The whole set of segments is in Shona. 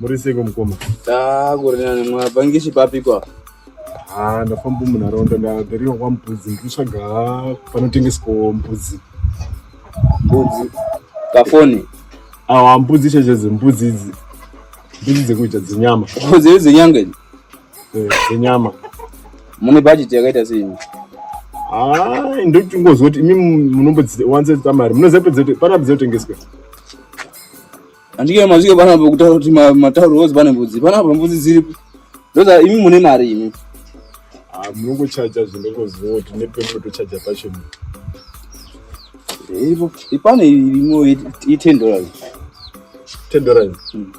Muri seiko mukoma? Ah, kuri nani mwapangishi papikwa? Ah, ndafamba munharaunda ndagariwa kwa Mbudzi ndikutsvaga panotengeswa mbudzi. Mbudzi. Kafoni. Ah, mbudzi cheche dzembudzi idzi. Mbudzi dzekuita dzenyama. Mbudzi dzenyanga idzi. Eh, dzenyama. Mune budget yakaita sei? Ah, ndoti ngozoti imi munombodziwanza mari. Munoziva kuti panabudzi yotengeswa. Andike mazvike bana kutaura kuti matauro wozi bana mbudzi. Bana mbudzi dziripi? Ndoza imi mune mari imi. Ah, munongochaja zvinongoziva kuti nepemunotochaja pacho. Ipo ipane irimo i 10 dollars. 10 dollars. Hmm.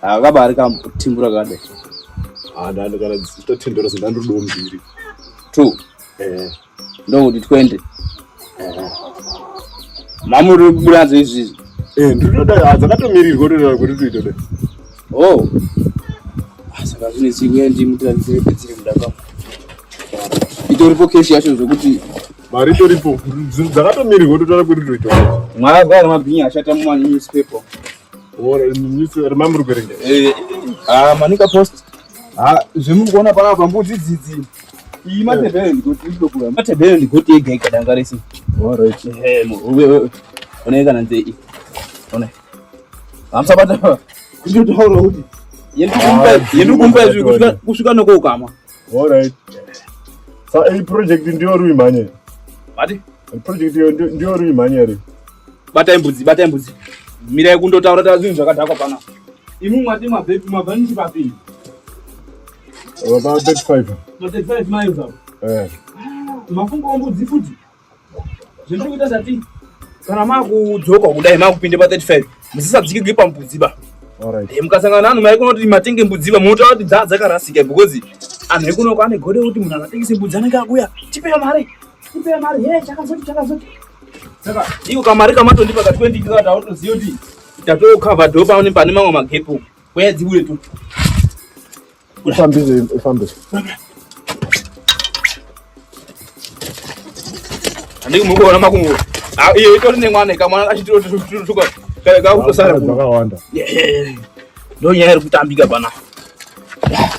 Ah, kabari kamutimbura kade. Ah, ndandikana 10 dollars ndandodo mbiri. 2. Eh. ndokuti twende mama uri kubuda nadzo izvizvi eh, ndinoda hadzakatomirirwa unoda kuti tuite da o oh. ah, saka zvine chikuya ndimutiraisepedzire muda kwangu itoripo keshi yacho zvokuti mari itoripo dzakatomirirwa unotoda kuti tuite mwaya gwa remabhinya ashata mumanewspaper remamuri kuerenga eh, ah, manika post Ah, zvemuri kuona pana apa mbudzi dzidzi iyi matebhero ndigoti ndokura matebhero ndigoti ega ega danga rese alright eh uwe uwe ona kana nze iyi ona hamsa bata kucho to horo kuti yendi kumpa ah, yendi kumpa izvi kusvika kusvika noko ukama alright sa iyi project ndiyo rui manye mati Project iyo ndiyo ri mhanya ri. Bata imbudzi, bata imbudzi. Mira yekundotaura taura zvinhu zvakadhakwa pana. Imi mwati mabhepi mabhanisi papi? Baba 35. Ma 35 miles up. Eh. Mafungo ombudzi futi. Zvinoda kuita zvati kana makudzoka kudai makupinde pa 35 musisadzikigwi pambudzi ba. Alright. Eh, mukasangana nanu mai kunoti matenge mbudzi ba munotaura kuti dzaa dzakarasika because anhu ekunoko ane gode kuti munhu akatengese mbudzi anenge akuya tipeyo mari Ipe mari hey chakazoti chakazoti. Saka iko kamari kamatondipa ka 20 kika tautoziyo kuti tato cover door paone pane mamwe magepo. Kwaya dzibuye tu. Ufambize ufambize. Andiko mukuona makungu. Ah iyo itori nemwana ikamwana achitiro tutuka. Kale kakutosara kuwanda. Yeah. Ndo nyaya iri kutambika pana. Yeah.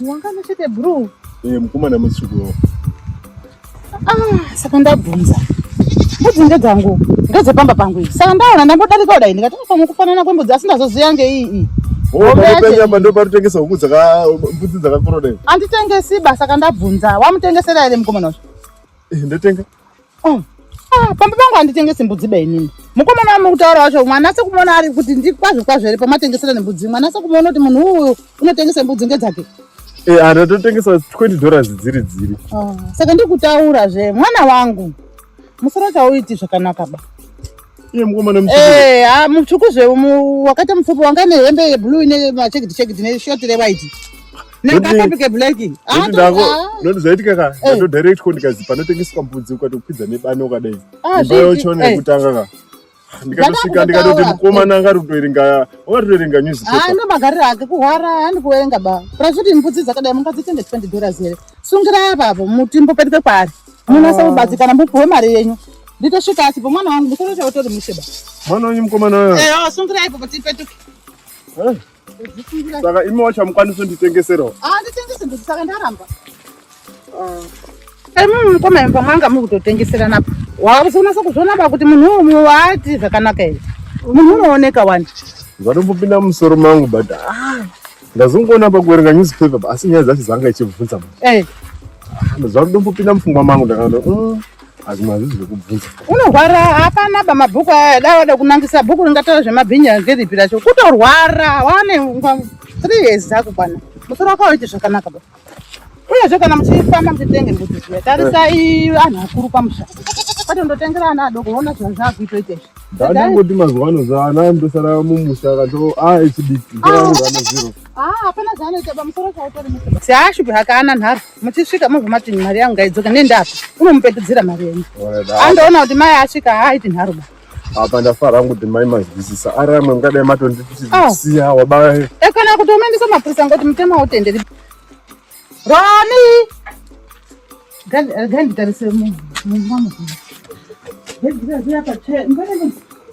Wangana chete bro. Eh, mukomana mutsvuku. Ah, saka ndabvunza. Mbudzi ndedzangu, ndedzepamba pangu iyi. Saka ndaona ndangodarika kudai ndikati ah, pamwe kufanana kwembudzi asi ndazoziva ngeiyi iyi. Panyama ndoparutengesa huku dzaka mbudzi dzakakura dai. Anditengesi basa kandabvunza. Wamutengesera here mukomana wacho? Eh, ndotenga. Oh. Ah, pamba pangu handitengesi mbudzi ba inini mukomana wamuri kutaura wacho mwana ase kumuona ari kuti ndikwazvo kwazvo here pamatengesera nembudzi mwana ase kumuona kuti munhu uyu unotengesa mbudzi ngedzake eh, ah, ndatotengesa 20 dollars dziri dziri ah, saka ndikutaura zve mwana wangu musoro chauiti zvakanaka ba Iye mukomana mutsvuku. Eh, ah mutsvuku zve wakaita mupfupi wanga nehembe yeblue ine machekiti chekiti ne short re white. Nakakapi ke black. Ah, ndako. Ndondo zaitika ka. Eh. Ndo direct ko ndikazi panotengeswa mbudzi ukatopfidza nebano kadai. Ah, Imba yochona eh. yekutanga ka. Ah, ndikatosvika ndikatoti mukomana anga ari kutoerenga wakatoerenga ah, newspaper haana magariro ake kuhwara haani kuerenga ba plus kuti mbudzi dzakadai mungadzitenge 20 dollars here sungira apapo muti mbopetuke kwaari Munonasa ah. kubatsirikana mupiwe mari yenyu. Nditosvika asi po mwana wangu mukuru chauto uri mushe ba. Mwana wenyu mukomana wewe. Eh, oh, sungira ipo kuti ipetuke. Eh. Saka imi wacha mukwanisa nditengeserawo. Ah, nditengese ndikuti saka ndaramba. Ah. Eh, mimi mukoma imba mwanga muri kutotengesera napo. Wakusonasa kuzvona ba kuti munhu umwe waati zvakanaka here. Munhu unooneka wani. Zvatombopinda musoro mangu but ah. ndazongoona pakuverenga newspaper pa asi nyaya dzacho dzanga ichibvunza ma eh. ah, zvakudombopinda mupfungwa mangu ndakaona mm, hazvimwe hazvizi zvekubvunza unorwara hapana ba mabhuku aya da wada kunangisa bhuku ringataura zvemabhinya ngeripi racho kutorwara wane nguva three years dzakukwana musoro wakawaite zvakanaka ba uyezve kana muchifamba muchitenge mbudzi zviya tarisai anhu akuru pamusha kwati ndotengera ana adoko ona zvinhu zvaakuitoita izvi ndangoti mazuva ano zvaana ndosara mumusha kato a echidiki zvaangana zero hapana zvaanoita pamusoro chautori siashupi hakana nharo muchisvika mozomati mari yangu ngaidzoka nendapa unomupetudzira mari yenyu andoona kuti mai asvika haaiti nharo ba apa ndafara hangu kuti mai mazwisisa ari amwe mungadai matondisiya ah. wabaya e eh, kana kuti umaendesa mapurisa ngoti mutema wotenderi roni ganditarise eh, mumba mukuru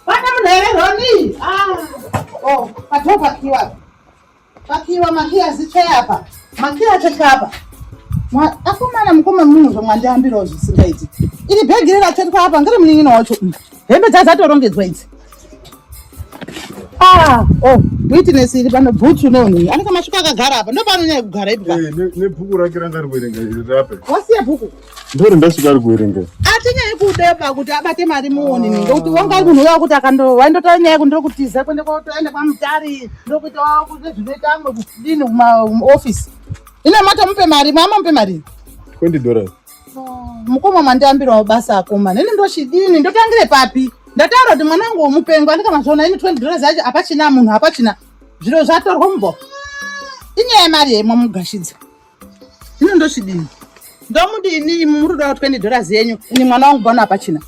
Bana mnaelewa nini? Ah. Oh, patoka kiwa. Pakiwa makiya zithe apa. Makiya thetha apa. Akomana mukoma munhu zvamwandiambirawo zvisingaiti. Iri bhegi riri rathethwa apa ngiri munin'ina wacho. Hembe dzazatorongedzwa idzi. Ah, oh, witness iri pano bhutsu neunhu. Anenge masvika akagara apa. Ndopanonyanya kugara ipi ka? Eh, nebhuku rake ranga riwerenga iri rape. Wasiya bhuku? ndori ndasvika ari kuerengera atinyai kudeba kuti abate mari muoni ninge kuti wangai munhu uya kuti akandowaindotora nyaya yekuti ndokutiza kuende kwaotoenda kwamutari ndokuita wakuti zvinoita amwe kudini kumaofisi ine matomupe mari mamamupe mari twenty dollars mukoma mandiambirawo basa akoma nini ndochidini ndotangire papi ndataura kuti mwana wangu womupengo andikamazviona ini twenty dollars yacho hapachina munhu hapachina zviro zvatorwa mubho inyaya yemari yemwa mugashidza Ino ndochidini? Ndomudini imi muri kuda 20 dollars yenyu. Ini mwana wangu bwana apachina.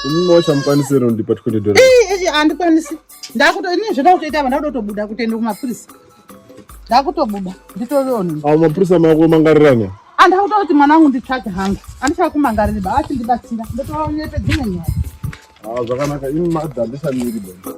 Imi mwacha mukwanisi ro ndipa 20 dollars. Eh, eh, andikwanisi. Ndakuto ini zvoda kutoita vana kutobuda kutenda kumapurisa. Ndakutobuda. Nditovioni. Awu mapurisa mako mangariranya. Andakuto kuti mwana wangu nditsvake hangu. Andichaka kumangarira ba ati ndibatsira. Ndotovaonye pedzimwe nyaya. Ah, zvakanaka. Imi madha ndisamiri bwana.